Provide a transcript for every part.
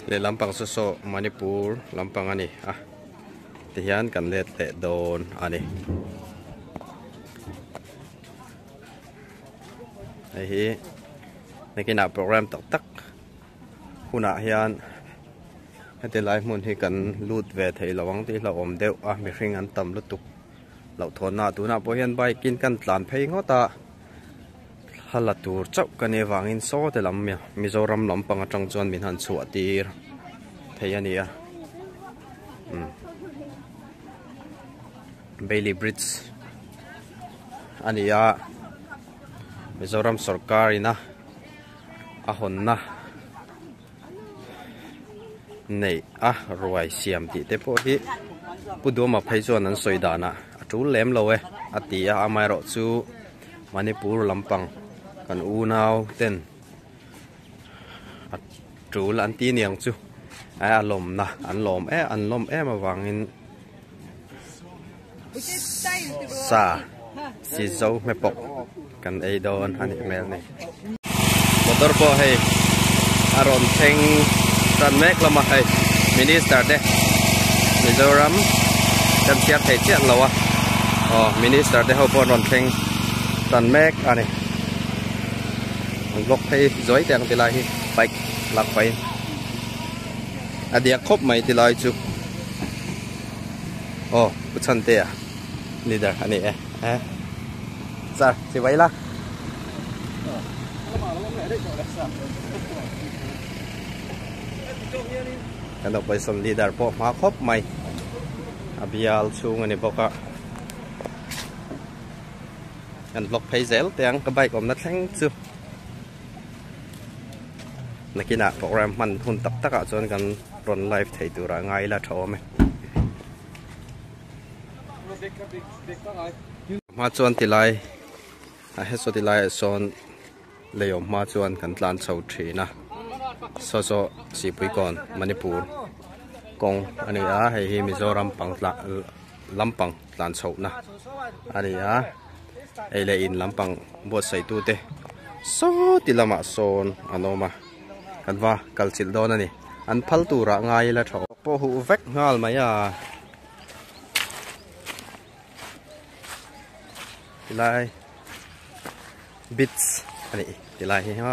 Let lam pang saw saw Manipur lam pang ani a ti hian kan let leh dawn ani hei hi nekina program tak tak huna hian heti lai hmun hi kan lut ve thei lo ang tih hla awm deuh a mi hring an tam lutuk Hlauhthawnna tunah pawh hian bike in kan tlan phei ngawt a, thla la tur chauh ka nih avangin sawte lam Mizoram lampang atang chuan min han chhuah tir thei a nia. Bailey Bridge a ni a, Mizoram sawrkarin a hawnna. Neih a ruai siam tih te pawh hi Pu Duamaphei chuan an sawi danah a tul lem lo e a ti a, amaherawh chu Manipur lampang kan unau ten a tul an ti niang chu a lawmna an lawm em avangin. Sa si zo hme pawh kan ei dawn a nih hmel ni. Motor pawh hei a rawn thleng tan mek hlawm a, hei Minister te Mizoram kan chhiar thei chiah lo a, aw Minister te ho pawh an rawn thleng tan mek a ni. An block phei zuai teh ang ti lai hi bike lak pahin a diak khawp mai ti lai chu. Aw, u Chhantea leader a nih e. Eh. Sir, si vai la. Kan opposition leader pawh hma khawp mai. A bial chhung a ni bawk a. Kan vlog phei zel teng ka bike awmna thleng chu. Nakina program hman hun tak tak ah chuan kan rawn live thei tur ah ngai ila tha awm e. Hma chuan tilai a he so tilai ah sawn lei awm hma chuan kan tlan chho thin a. So so sipui kawn Manipur kawng a ni a hei hi Mizoram pang tlan lampang tlan chhoh na a ni a. ei leh in lampang buatsaihtu te sawti lamah sawn an awm a, kan va kalchilh dawn a ni, an phal turah ngai ila tha aw. Pawh huh vek nghal mai a, tilai beach a nih tilai hi ha.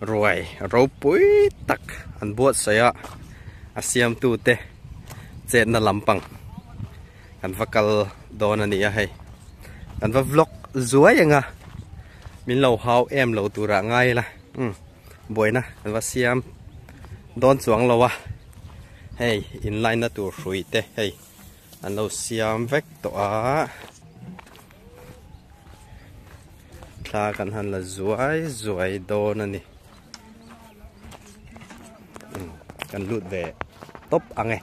Ruai ropui tak an buatsaih a, a siamtute chetna lampang kan va kal dawn a nih a hei. Kan va vlog zuai anga min lo hau em lo turah ngai ila buaina kan va siam dawn chuang lo a, hei inline-na tur hrui te hei. An lo siam vek tawh a. Thla kan han la zuai zuai dawn a ni. Hmm, kan lut ve top ang e.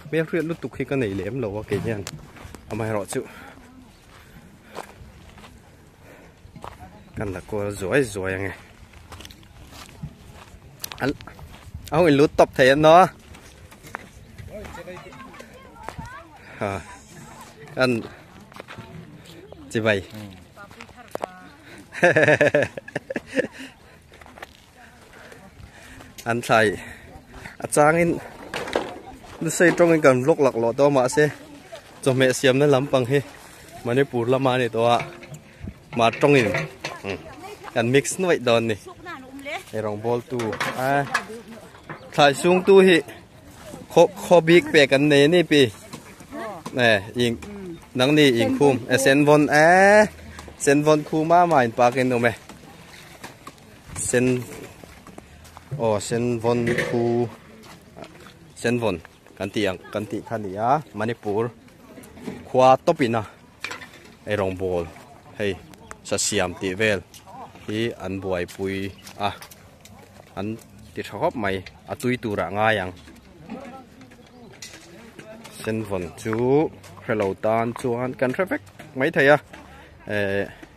Hmel hriat lutuk hi ka nei lem lo a kei hian. Amaherawh chu. kan la kual zuai zuai ange al au in lu top thei no ha kan chi bai an thlai a changin lusei tawngin kan vlog lak lawh tawh mahse chawhmeh siamna lampang hi manipur lama ni tawha mah tawngin kan mix nuaih dawn ni hei rawngbawl tu a thlai sung tu hi kho kho bik pe kan nei ni pi nè ing nang ni ing khum sen von a sen von khuma ma in pakin um e sen aw sen vawn khu sen vawn kan tih ang kan tih kha nia manipur khua topina ei rongbol hei sa siam ti vel hi an buai pui a an ti tha khawp mai a tui tura ngai ang sen vawn chu hrelo tan chuan kan hre vek mai thei a eh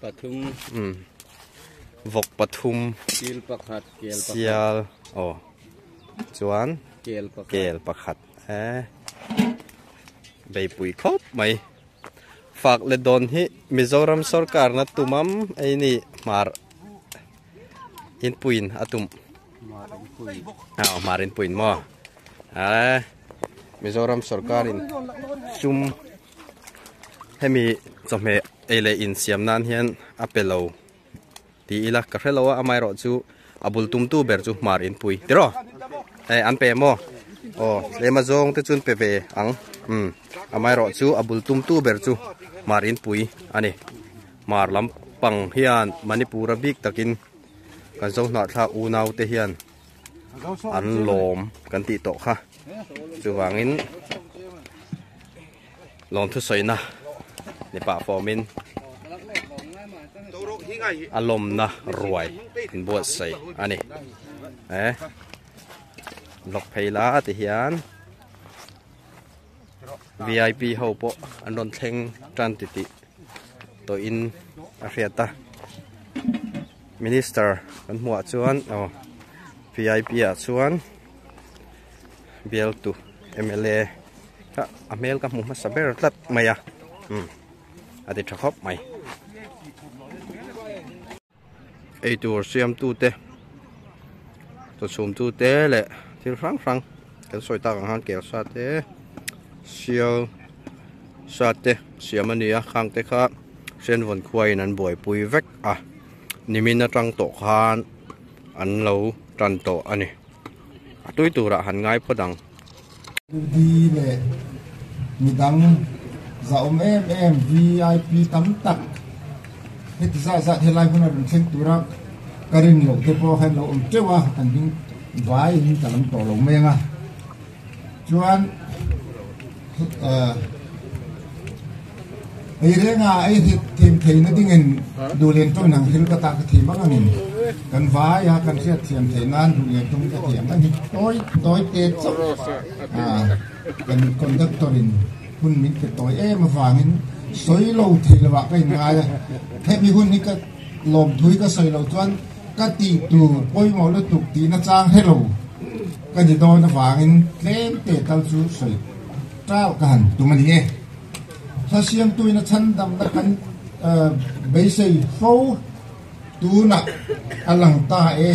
Pathum. Um. Vawk pathum. Sil pakhat, kel pakhat. Sial. Oh. Chuan. Kel pakhat. Kel pakhat. Eh. Beipui khop mai. Fak le don hi Mizoram sorkar na tumam ei ni mar in puin atum. Marin puin. Ah, marin puin mo. Eh. Mizoram sorkar in sum hemi chawhmeh ei leh in siam nan hian a pe lo ti ila ka hre lo a amah erawh chu a bul tum tu ber chu hmar in pui tiraw eh an pe maw aw tlema zawng te chuan pe ve ang imm amah erawh chu a bul tum tu ber chu hmar in pui a ni hmar lampang hian manipura bik takin kan zo hnah thlak unau te hian an lawm kan tih tawh kha chuvangin lawmthusawina mipa formin a lawmna ruai inbuatsaih a ni e lawk phei la ti hian vip ho pawh an rawn thleng tan ti tih tawhin a hriat a Minister kan hmuh ah chuan aw vip ah chuan bialtu mla kha a hmel ka hmu hmasa ber tlat mai a umm a ti tha khawp mai eitur siamtu te chaw chhum tu te leh thil hrang hrang kan sawi tak ang han kel sa te sial sa te siam a ni a khang te kha hrengvawn khua in an buaipui vek. A nimin atang tawh khan an lo tan tawh a ni. A tui turah han ngai phawt ang. Udi leh midang zahawm em em VIP tam tak heti zah zat helai hmun a rawn thleng tura ka rin loh te pawh kha an lo awm teuh a, an ding vaiin ka lam tawh lo mai ang a. Chuan eirenga ei hit thim theihna dingin duhlian tawng inang thil ka tah ka thi mang angin kan vaia kan hriatthiam theih nan duhlian tawng ka ti ang a ni. Tawi tawi te kan conductor in hun min pe tawi em avangin sawi lo theih lovah ka inngai a, hemi hun hi ka lawmthui ka sawi lo chuan Ka tih tur pawimawh lutuk tih nachang hello ka ni dawn avangin tlem te tal chu sawi tauh ka han tum a ni e. Thlasiamtuin a chhandamna kan beisei fo tunah a lang ta e.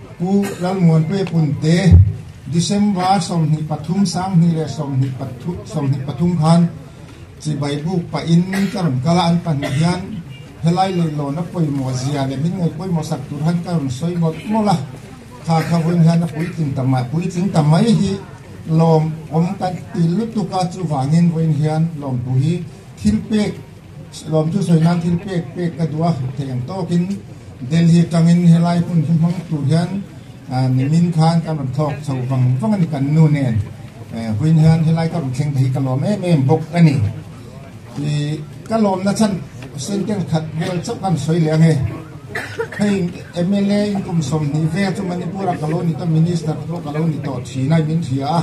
Pu Lalmuanpe Punte, December sawmhnih pathum, Sanghnih leh sawmhnih pathu, sawmhnih pathum khan chibai buk pahin ka rawn kal a, an pahnih hian helai leihlawnna pawimawh zia leh min ngaih pawimawh sak tur han ka rawn sawi mawlh mawlh a, kha kha vawiin hian a puitling ta mai, puitling ta mai hi lawm awm kan ti lutuk a, chuvangin vawiin hian lawmtu hi thilpek Siloam chu sawi nan thil pek pek ka duh a, theih ang tawk in Delhi atang in helai hmun hi hmang tur hian nimin khan kan rawn thlawk chho vang vang a ni kan nu nen vawiin hian helai ka rawn thleng te hi ka lawm em em bawk a ni. Ka lawm na chhan sentence khat vel chauh khan sawi leh ange hei mla in kum sawm hnih vel chu Manipur ah ka lo ni tawh minister te pawh ka lo ni tawh thin a min hria a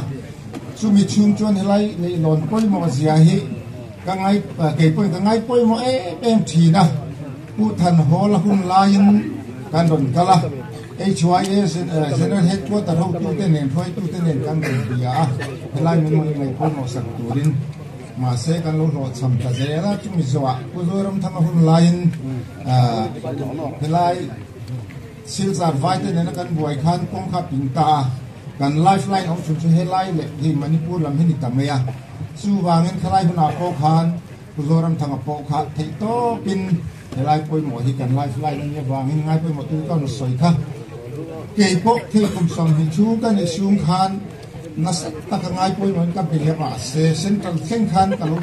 chumi chhung chuan helai leihlawn pawimawh zia hi Ka ngai kei pawhin ka ngai pawimawh em em thin a, Pu Than Hawl a hun laiin kan rawn kal a, HYS General Headquarter hotute nen, hruaitute nen kan rawn bia a, helai min rawn inlei pawimawh sak turin. Mahse kan lo hlawhchham ta zel a, chumi zawhah Pu Zawiramthanga hun laiin helai. Silzar vaite nena kan buai khan kawngkhar pin ta a, kan life line awm thin chu helai leh hi Manipur lam hi ni ta mai a, chuvangin khalai hunah pawh khan Pu Zoramthanga pawh kha theih tawpin helai pawimawh hi kan life line ania vangin ngai pawimawh tu ka rawn sawi kha. Keipawh thil kum sam hnih thu ka nih sung khan nasat taka ngai pawimawh in ka be leh mah se central thleng khan ka lo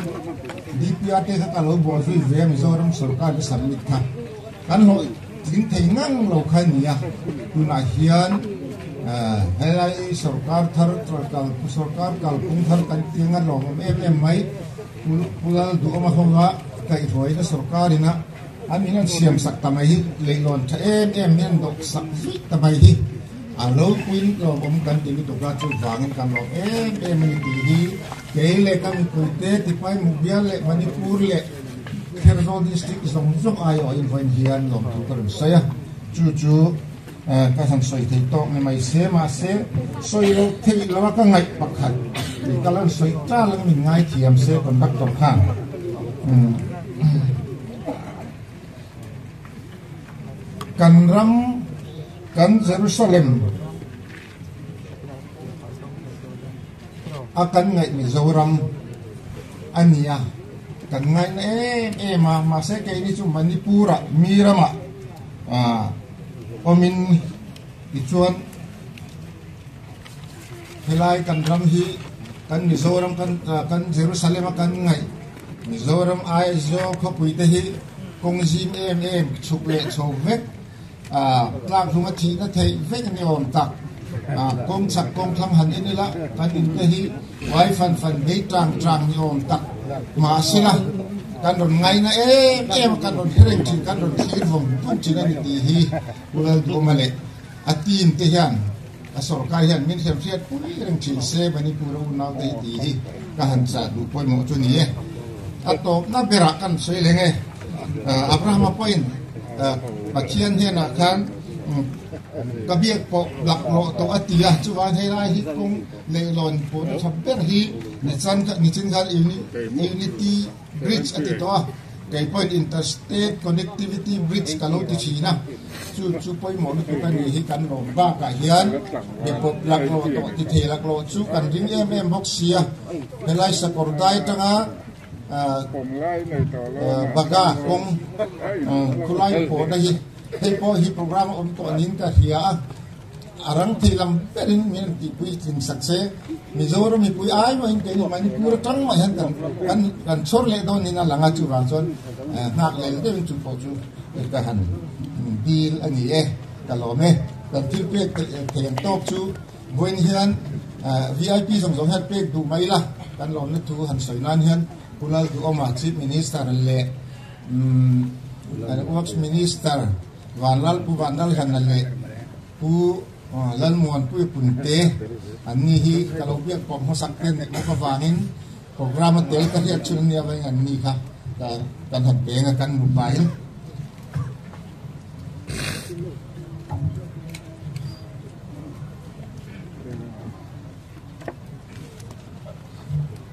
DPRK kha ka lo buai hlui ve a Mizoram sorkar in submit kha. Kan hawih tling thei ngang lo kha ni a, tunah hian helai sorkar thar kal sorkar kalkawng thar kan ti anga lawm awm em em mai Pu Lal Duhawma hova kaihhruaina sorkarina an in an siam sak ta mai hi leihlawn tha em em hi an dawh sak zui ta mai hi a lo puiin lawm awm kan ti lutuk a chuvangin kan lawm em em a ni tih hi Kei leh ka mipui te tipai Mubial leh Manipur leh Kherzo district zawng zawng ai awh invawiin hian lawm tur ka rawn sawi a, chu chu ka han sawi thei tawk ni mai se mahse sawi lo theih lo a ka ngaih pakhat i ka lan sawi tal ang min ngai thiam se conductor khan kan ram kan Jerusalem A kan ngaih Mizoram a ni a, kan ngaih na em em a, mahse keini chu Manipur ah mi ramah awmin tichuan helai kan ram hi kan Mizoram kan Jerusalem a kan ngaih Mizoram Aizawl khawpui te hi kawng zim em em chhuk leh chho vek. Tlakhlum a thihna theih vek ni awm tak kawng chak kawng thlang han en ila, kan in te hi uai fan fan, bei trang trang ni awm tak hma a si la, kan rawn ngaina em em a, kan rawn hereng thin, kan rawn thlir vawng put thin a ni tih hi Kulal Buma leh a team te hian. A sorkar hian min hliam hriat pui reng thin se Manipur a unauta hi ti hi ka han chah duh pawimawh chu ni e. A tawpna berah kan sawi leng e. Abrahama pawiin Pathian hianah khan ka biak pawh dak rawh tawh a ti a, chuan helai hi kawng leihlawn pawna tha ber hi nichan kha nichin khan unity Bridge a ti tawh a, kei pawhin Interstate Connectivity Bridge ka lo ti thin a, chu chu pawimawh lutuk a nih hi kan lawm bakah hian mi pawp laklo tawh ti thei laklo chu kan ring em em bawk sia, helai sakawr dai atanga baga kawng khulai pawhna hi hei pawh hi program a awm tawh niin ka hria a. A rang thei lam berin min rawn tihpui tling sak che. Mizoram mipui ai mawhin kei leh Manipur atang mah hian kan kan kan chhawr leh dawn niin a lang a. Chuvang chuan nghak lel deuhin chu pawh chu ka han bil a ni e, ka lawm e. Kan thil pek thei ang tawk chu vawiin hian VIP zawng zawng hian pek duh mai ila kan lawmna thu han sawi nan hian Kunal Duhawma Chief Minister leh umm Works Minister, Vanlal, Pu Vanlal Hlanna leh Pu Lalmuan Puipunte an ni hi ka lo biak pawh hmasak ten nek bawk avangin program a tel ka hriat thin ania vain an ni kha ka ka hnawt ve anga kan mu pahin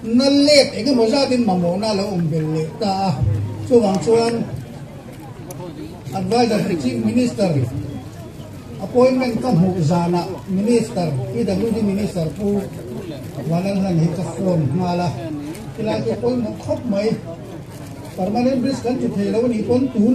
Nal lek eng emaw zatin mamawhna a lo awm ve leh ta a, chuvang chuan Adviser to Chief Minister Appointment ka hmuh zanah Minister, PWD Minister Pu Vanlalhan hi ka phone nghal a, tilai tur pawimawh khawp mai Permanent Bridge kan ti thei lo a nih pawn tun,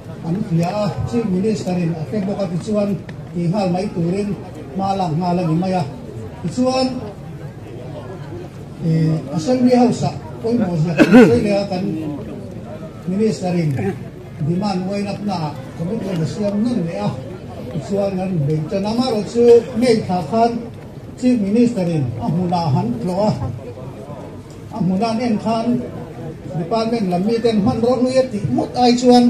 An hria a, Chief Minister in a pe bawk a tichuan ti nghal mai turin hma lak nghal a ni mai a. Tichuan Assembly House ah pawimawh ziah kan la sawi leh a, kan Minister in demand uainakna ah commitment a siam ngam leh a, tichuan kan rin beng chuan amaherawh chu May thla khan Chief Minister in a hmunah han tlawh a. A hmuna nen khan department lam miten hman rawh nui a tih mut ai chuan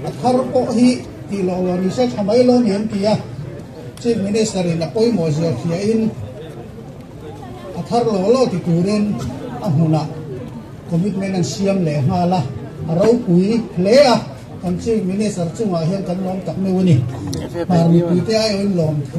a thar pawh hi tih loh lo ni se tha mai lo ni an ti a, Chief Minister in a pawimawh ziahthliah in a thar lo lo ti turin a hmuna commitment an siam leh nghal a, a ropui hle a, kan Chief Minister chungah hian kan lawm tak meuh a ni, par mipui te aiawm lawm thu.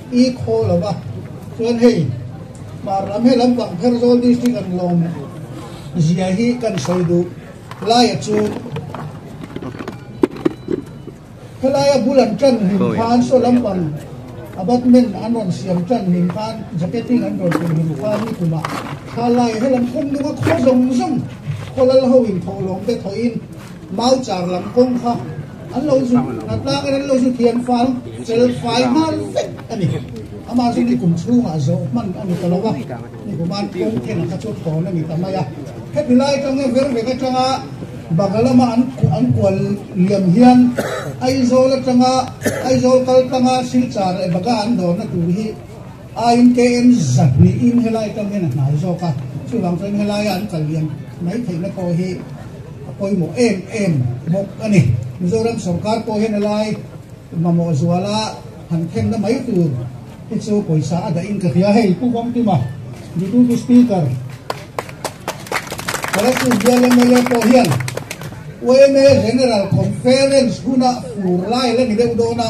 I khaw lo va, chuan hei hmar ram he lampang Kherzawl district an lawm zia hi kan sawi duh laia chu helaia bul an tan hlim khan saw lampang abutment an rawn siam tan hlim khan jacketing an rawn pui hlim khan nikum ah thla laia he lam khum duma khaw zawng zawng khaw lal ho in tho lawm te thawihin mauchar lam kawng kha An lo zut a tlâng erawh an lo zut lian fai, fel fai nghal vek a ni. Amah chu ni kum chhungah zawh hman a ni ta lo a, ni human kawng thenah kha chu thawn a ni ta mai a. Heti lai atang hian vel vek atanga Baga lama an an kual liam hian Aizawl atanga Aizawl kal tanga Silchar leh Baga an dawnna tur hi, A inkm zat niin helai tang hian a hnai zawk a, chuvang chuan helaia an kal lian mai theihna pawh hi a pawimawh em em bawk a ni. Mizoram sawrkar pawh hian helai mamawh zuala han thenna mai tur hi chu pawisa a dahin ka hria hei Pu Vamtima Deputy Speaker Karachuan Bial MLA pawh hian OMA General Conference huna fur lai la ni deuh dawn a,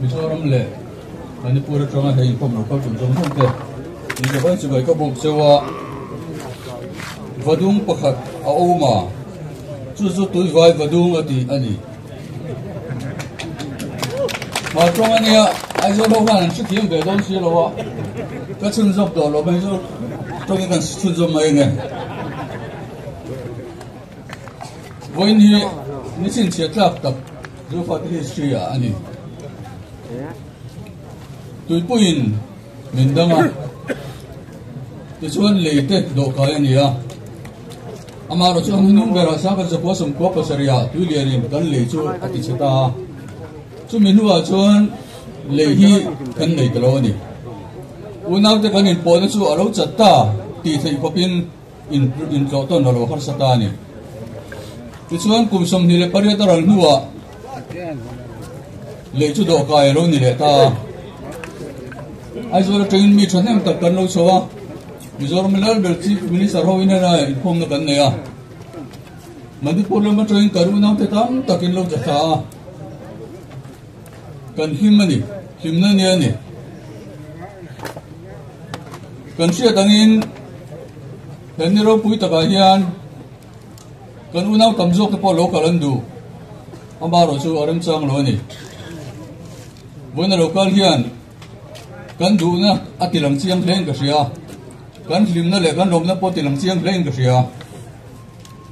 Mizoram leh Manipur atanga he inkhawm lo kal chawlh zawng zawng te in ka vai chibai ka bawk cheu a, va dum pakhat a awm a, chu chu Tuivai va dum a tih a ni. Hma tawng a nia, Aizawl ho hian an hre thiam ve dawn si lo a, ka chhun zawk tawh lo, Aizawl tawngin kan chhun zawk mai a nia. Vawiin hi nichin chhiattlak tak zulfate history ah a ni. Tuipuiin min dang a, tichuan lei te dawhkai a ni a. Amarawh chu hang nung berah Sangkar Zakua Sawmkhua Pasarih-a tui lianin kan lei chu a ti chhe ta a. Chumi hnuah chuan lei hi kan nei ta lo a ni. Unaute kan inpawhna chu a lo chat ta tih theih khawpin, In tlawh tawn lo lo harsa ta a ni. Tichuan kum sawmhnih leh pariat a ral hnuah lei chu dawhkai a lo ni leh ta a. Aizawl atangin mi thahnem tak kan lo chho a, Mizoram Lalbel Chief Minister ho in hela inkhawmna kan nei a. Manipur lam atangin karunau te tam takin lo chatha a. Kan him a ni, himna nia ni. Kan hriat angin kan ni ropui takah hian kan unau tam zawk te pawh lo kal an duh. Ama ro chu a rem chang lo a ni. Buaina lo kal hian kan duhna a tilang chiang hle in ka hria. Kan hlimna leh kan lawmna pawh tilang chiang hle in ka hria.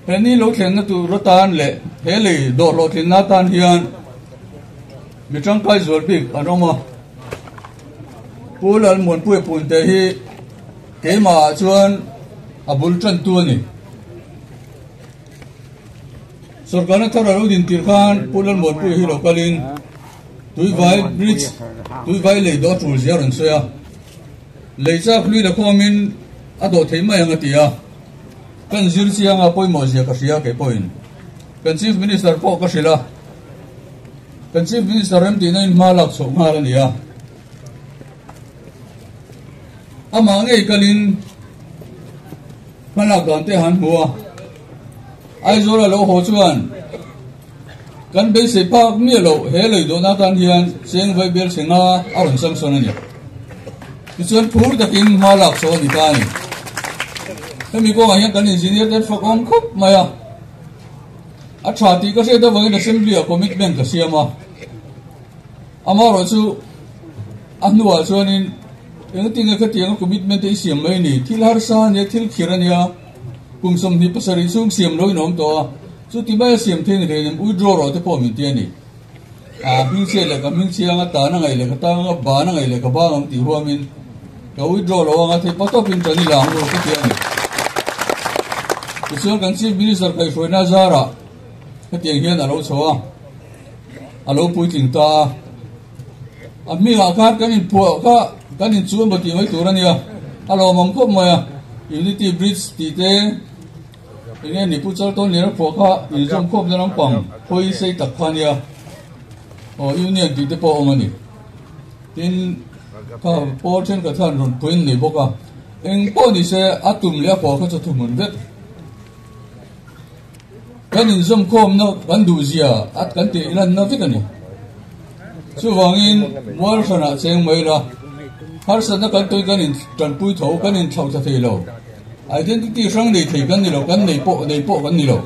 He ni lo thlenna tur atan leh he lei dawhhlawhtlinna atan hian mi tangkai zual bik an awm a. Pu Lalmuanpuia Punte hi keimahah chuan a bul tantu a ni. Sorkarna thar a lo din tir khan Pu Lalmuanpuia hi lo kalin Tuivai Bridge, Tuivai lei dawh tul zia a rawn sawi a. Lei chak hlui la khawmin a dawh thei mai ang a ti a. Kan zir chianga pawimawh zia ka hria, kei pawhin kan Chief Minister pawh ka hrilh a, kan Chief Minister rem tihna in hma lak chhoh nghal a ni a. Amah ngei kalin hmalak dan te han hmu a, Aizawl a lo haw chuan, Kan beisei bak miah loh he lei dawn atan hian cheng vai bel thleng a a rawn sam sawn a ni. Tichuan phur takin hma lak saw a ni ta a ni. Hemi kawngah hian kan engineer ten fak awm khawp mai a. A tha tih ka hriat avangin assembly-ah commitment ka siam a. Amarawh chu a hnuah chuanin engtin nge khatiang a commitment te i siam mai a ni. Thil harsa a nia, thil khir a nia, kum sawmhnih pasarih chhung siam loin a awm tawh a. Chu ti maia siam thei ni theih em withdraw rawh te pawh min ti a ni. Ahh hming chhiat leh ka hming chiang a tan a ngaih leh ka tan ang a ban a ngaih leh ka bang ang tih huam in ka withdraw lo ang a thei patawp in ka ni lang ru ka ti a ni. Tichuan kan Chief Minister kaihhruaina zar ah hetiang hian a lo chho a, a lo puitling ta a. A hming ah khan kan in phuah kha kan in chu a maw tih mai tur a nia. A lawmawm khawp mai a, Unity Bridge tih te, Enge ni pu char tawn ner phuah kha in zawm khawp na lampang hawi sei tak kha nia aw union tih te pawh awm a ni tin kha pawl then ka thlan rawn pawi nei bawk a eng pawh ni se a tum leh a pawh kha chu thu hmun vet kan in zawm khawm na kan duh zia at kan tih lan na vek a ni Chuvangin, mualhranah cheng mai la, harsatna kan tawi kan in tanpui tho, kan in thlauh ta thei lo, identity hrang nei thei kan ni lo, kan nei pawh nei pawh kan ni lo.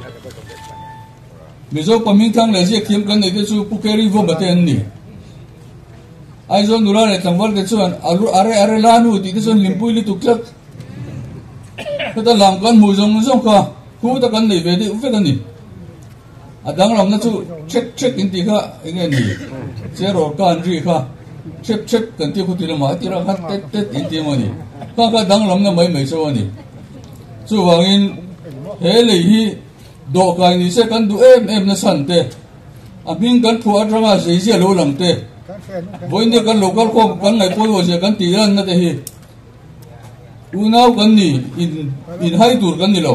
Mizo pahming thlang leh ziak thiam kan nei te chu Pu Keri Vawmba te an ni. Aizawl nula leh tlangval te chuan a re a re la nu tih te chuan limpui lutuk tlat. Heta lam kan hmuh zawng zawng kha thu te kan nei ve deuh vek a ni. A danglamna chu ṭhek ṭhek in tih kha enge ni? Che rawr kan ri kha ṭhek ṭhek kan tih khuti lamah a tirha khat tet tet in tih emaw ni? Kha kha danglamna mai mai chu a ni. Chuvangin he lei hi dawh kai ni se kan duh em em nasa an te, a hming kan phuah aṭanga zeizia lo lang te, vawinia kan lo kal khawm kan ngaihpawi maw sia kan tih ranna te hi unau kan ni in inhai tur kan ni lo.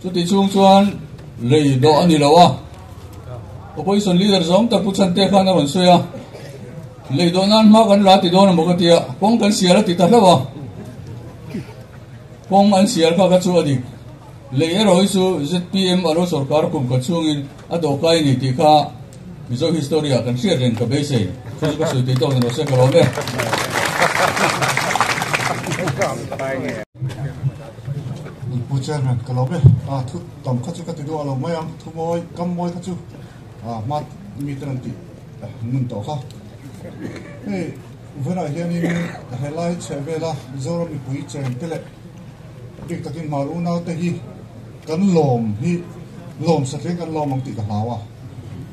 Chuti chhung chuan lei dawh a ni lo a, opposition leader zawng tak Pu Chhante khan a rawn sawi a, lei dawh nan hma kan la ti dawn ang bawk a tia kawng kan sial a ti ta hlauh a, kawng an sial kha ka chu a dik, lei erawh hi chu zpm a lo sorkar kum khat chhungin, A dawh kai ni tih kha Mizo history ah kan hriat reng ka beisei. Chu chu ka sawi theih tawk ni lo se ka lo awm e. Min pu chairman ka lo awm e. A thu tam kha chu ka ti duah lo mai a, thu mawi kam mawi kha chu a hma mi ten an tih nun tawh kha. Hei vawlah hian in he lai chheh vela Mizoram mipui cheng te leh. Dik takin hmar unaute hi kan lawm hi lawm sa tling kan lawm ang tih ka hlau a.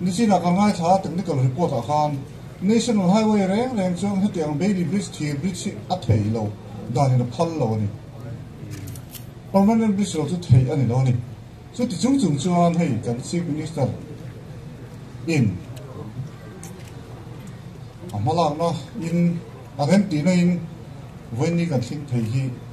Nichina kan ngaithla a technical report ah khan National Highway reng reng chuan hetiang ang Bailey Bridge thir bridge hi a thei lo danin a phal lo a ni. Permanent bridge lo chu thei a ni lo a ni. Chu ti chung chung chuan hei kan Chief Minister in a hmalakna in a rem tihna in vawiin kan thleng thei hi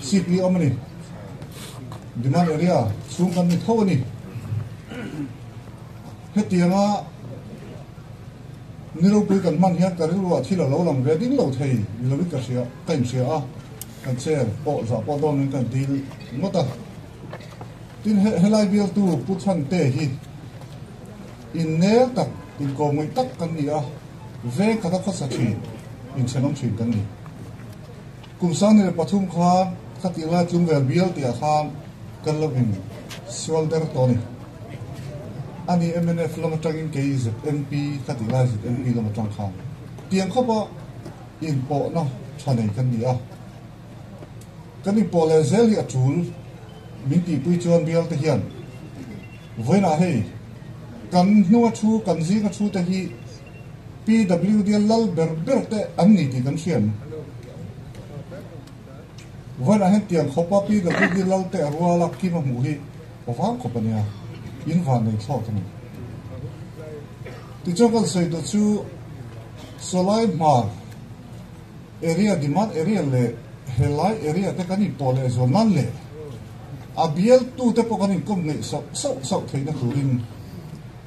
Seat hi a awm a ni. Demand area chhung kan ni tho a ni. Hetianga ni ropui kan hman hian ka rilruah thil a lo lang ve ding lo thei ni lovin ka hria ka inhria a kan chair pawh zah pawh dawn in kan deal ngawt a tin he helai bial tu pu chhan te hi in ner tak in ko ngui tak kan ni a veng khata khawsa thin in chhenom thin kan ni Kum sanni leh pathum kha khatih lai chung vel bialte ah khan kan lo in sual ber tawh a ni. A ni mnf lam atangin kei zmp khatih lai zmp lam atang khan tiang khawpa in pawhna tha nei kan ni a. Kan in pawh leh zel hi a tul min tihpui chuan bialte hian vawiinah hei kan hnunga thu kan zinga thu te hi PWD a lal ber ber te an ni tih kan hriat ang. Vawiinah hian tiang khawpa PWD lalte a rual a kim a hmuh hi aw vang khawp a nia, in van nei thlawt a ni. Tichuan kan sawi duh chu Sawlai Hmar area, Demand area leh he lai area te kan inpawh leh zual nan leh a bialtute pawh kan inkawm ngei sauh sauh sauh theihna turin,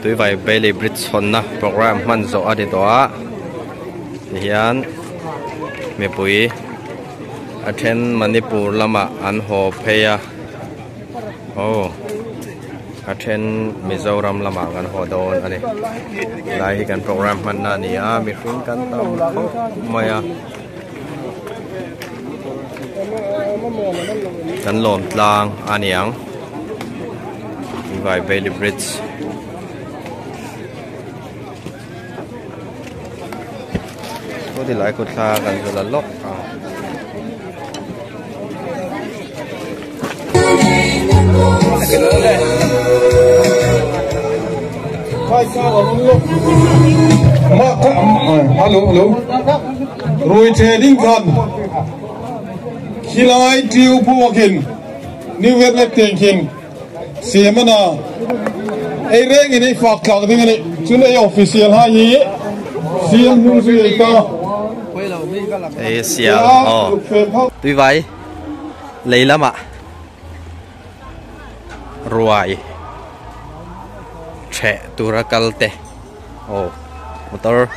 Tuivai Bailey Bridge chhawnna programme hman zawh a ni tawh a, tihian mipui a then Manipur lama an haw phei a, aw a then Mizoram lama kan haw dawn a ni, helai hi kan programme hmanna a ni a, mihring kan tam khawp mai a. kan lawm tlang a niang Tivai Bailey Bridge Saw ti lai kawt thla kan zala lawk ang. Rui che ding khan Hilai tiu pu akin New Year lek teng khin Siamana Ei reng in ei fak tlak ding ani Chun ei official hai hi Siam nu si ei ta Ei siam oh Tui vai lei lama ruai theh tura kal te oh motor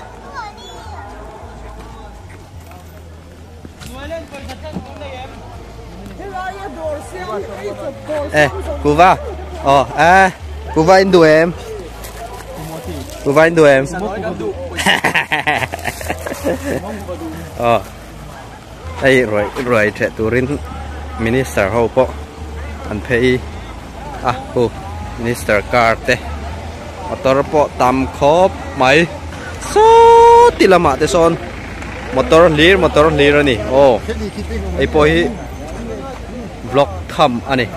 eh kuva oh eh kuva in du em kuva in du em oh Hei ruai ruai ṭheh turin minister ho pawh an phei a hu minister car te motor pawh tam khawp mai sawti lamah te sawn motor hlir motor hlir a ni aw hei pawh hi vlog tham a ni.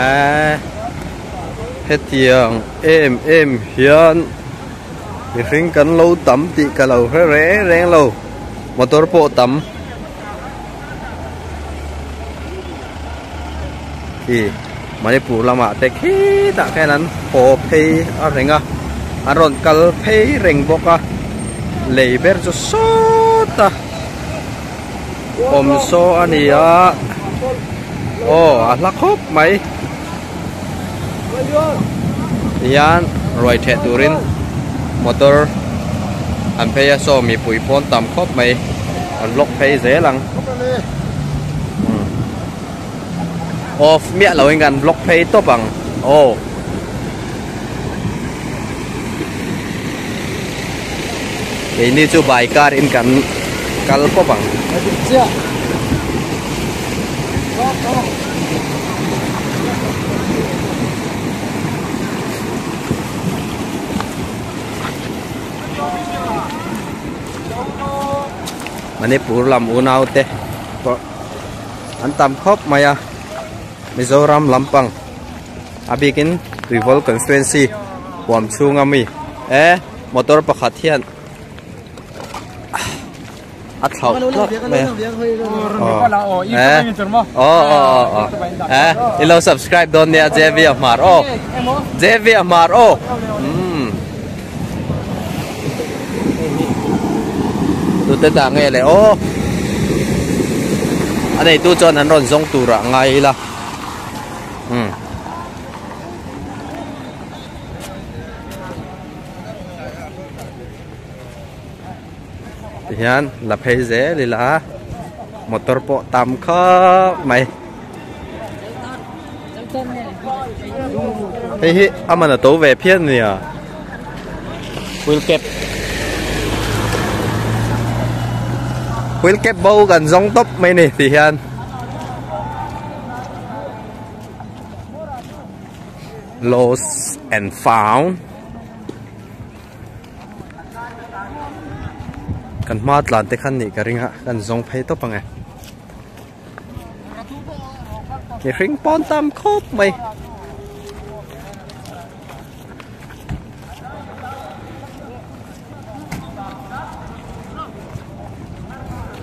Ahh. hetiang em em hian mihring kan lo tam tih ka lo hre reng reng lo motor pawh tam ih manipur lamah te khitah khian an haw phei a reng a an rawn kal phei reng bawk a lei ber chu sawt a awm saw a ni a aw a hla khawp mai. hian ruai theh turin motor an phei a saw mipui pawn tam khawp mai an lock phei zel ang off miah loh in kan lock phei tawp ang aw. keini chu bai kar in kan kal pawp ang manipur lam unau te pawh an tam khawp mai a mizoram lampang. A bikin Tuivawl constituency huam chhunga mi e motor pakhat hian a thlauh tlat mai a e aw aw aw e i lo subscribe dawn nia JV a hmar aw JV a hmar aw tute ta nge le aw a nei tu chuan an rawn zawng tura ngai ila hian la phei zel ila a motor pawh tam khap mai hei hi amana to ve phian nia wheel cap wheel cap bo kan zong top mai ni ti hian lost and found kan hma tlan te khan nih ka ring a kan zawng phei tawp ang e ki hring pawn tam khawp mai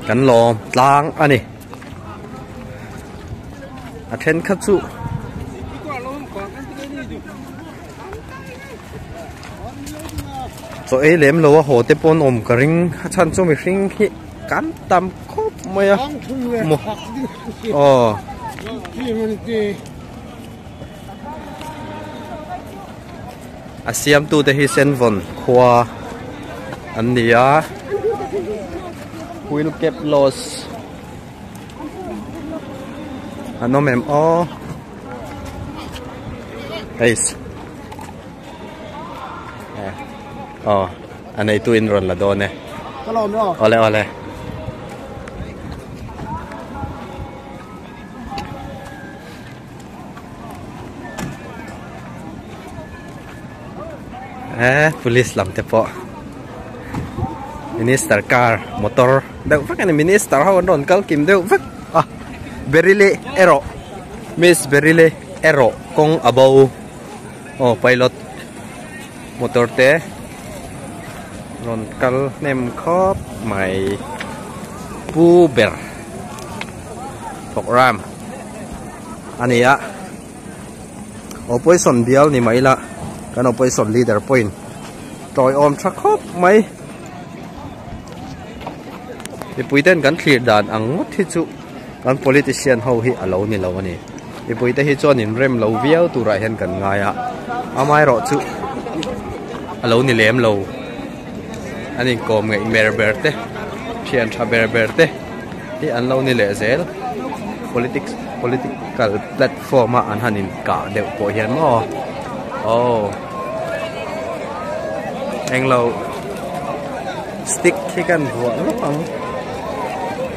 kan lawm tlang a ni a thenkhat chu chaw ei lem lo a haw te pawh an awm ka ring a chhan chu mihring khi kan tam khawp mai a maw aw. a siamtu te hi senvawn khua an ni a wheel gap loss an awm em aw eis aw a neitu in rawn la dawn e awle awle Eee police lam te pawh minister car motor deuh vek a ni minister ho an rawn kal kim deuh vek a berry leh erawh miss berry leh erawh kawng abo aw pilot. Motor te rawn kal hnem khawp mai pu ber programme a ni a opposition bial ni mai ila kan opposition leader pawhin tawiawm tha khawp mai mipui ten kan thlir dan ang ngawt hi chu. Kan politician ho hi a lo ni lo a ni. Mipuite hi chuan in rem lo viau turah hian kan ngai a. Amaherawh chu a lo ni lem lo. An inkawm ngeih ber ber te, thian tha ber ber te hi an lo ni leh zel. Politics, political platform ah an han inkah deuh pawh hian maw? Aw. Englo stick hi kan vuah lutuk ang.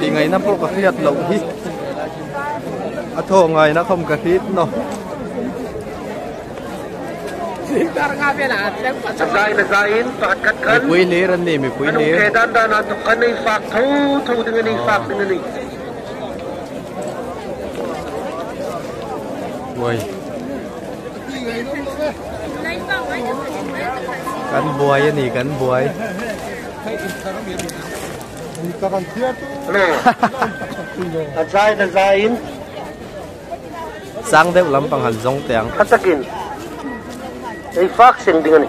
Tih ngaihna pawh ka hriat loh hi A thaw ngaihna khawm ka hrit naw Mipui lir an ni mipui lir Uai Kan buai a ni, kan buai. A zai ta zai in. Sang deuh lampang han zawng teh ang. Hla takin ei fak seng ding a ni.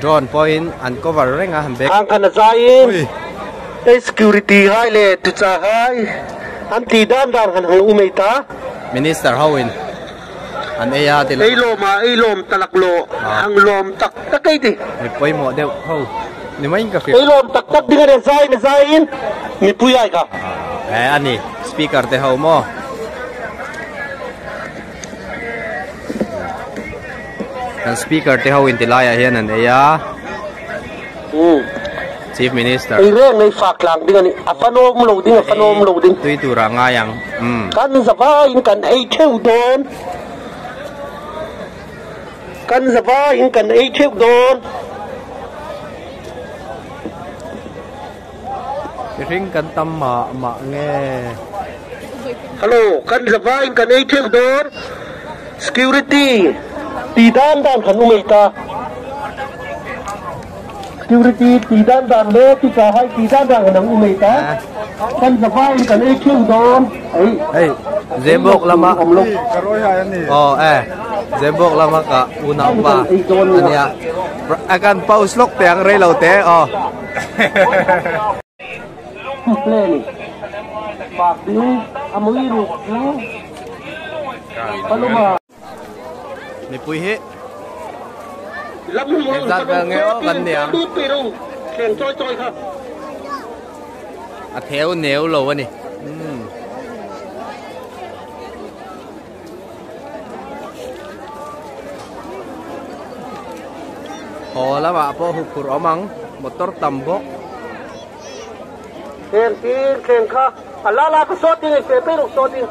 drone pawhin an cover reng a bag ang khan a zaiin ei security hai le tucha hai an ti dan dan han hmu mai ta minister ho in An ei a tila. Ei lawm a, ei lawm ta lak law, hang lawm tak tak ei ti. Ni pawimawh deuh ho, ni maiin ka hria. Ei lawm tak tak ding a nen zai ni zaiin mipui ai ka. He a ni, speaker te ho maw? Kan speaker te ho inti laiah hian an ei a. Umm. Chief Minister. Ei reng ngei fak tlang ding a ni. A fanawm lo ding, a fanawm lo ding. Tui turah ngai ang. Umm. Kan zavaiin kan ei theuh dawn. Kan zavaiin kan ei theuh dawn. Mihring kan tam mah mah nge. Hello, kan zavaiin kan ei theuh dawn. Security. Ti dan dan kan um ei ta. Security tih dan dan le teacher hai tih dan dan kan ang u mai ta. Kan za vai in kan ei kheu dawn. Hei Zebawk lama aw e Zebawk lama ka unaupa ania a kan post lawk teh ang rei lo te aw. Mipui hi Eng zat vel nge aw kan nia. A theu neu lo a ni. Hmm. Haw lama pawh hukhur awm ang, motor tam bawk. Thleng tir thleng kha a la la ka sawt ding, i fe phei ruk sawt ding.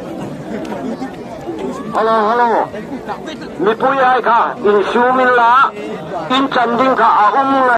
Hello, hello. Mipui ai kha in sum in la in chan ding kha a um ngai.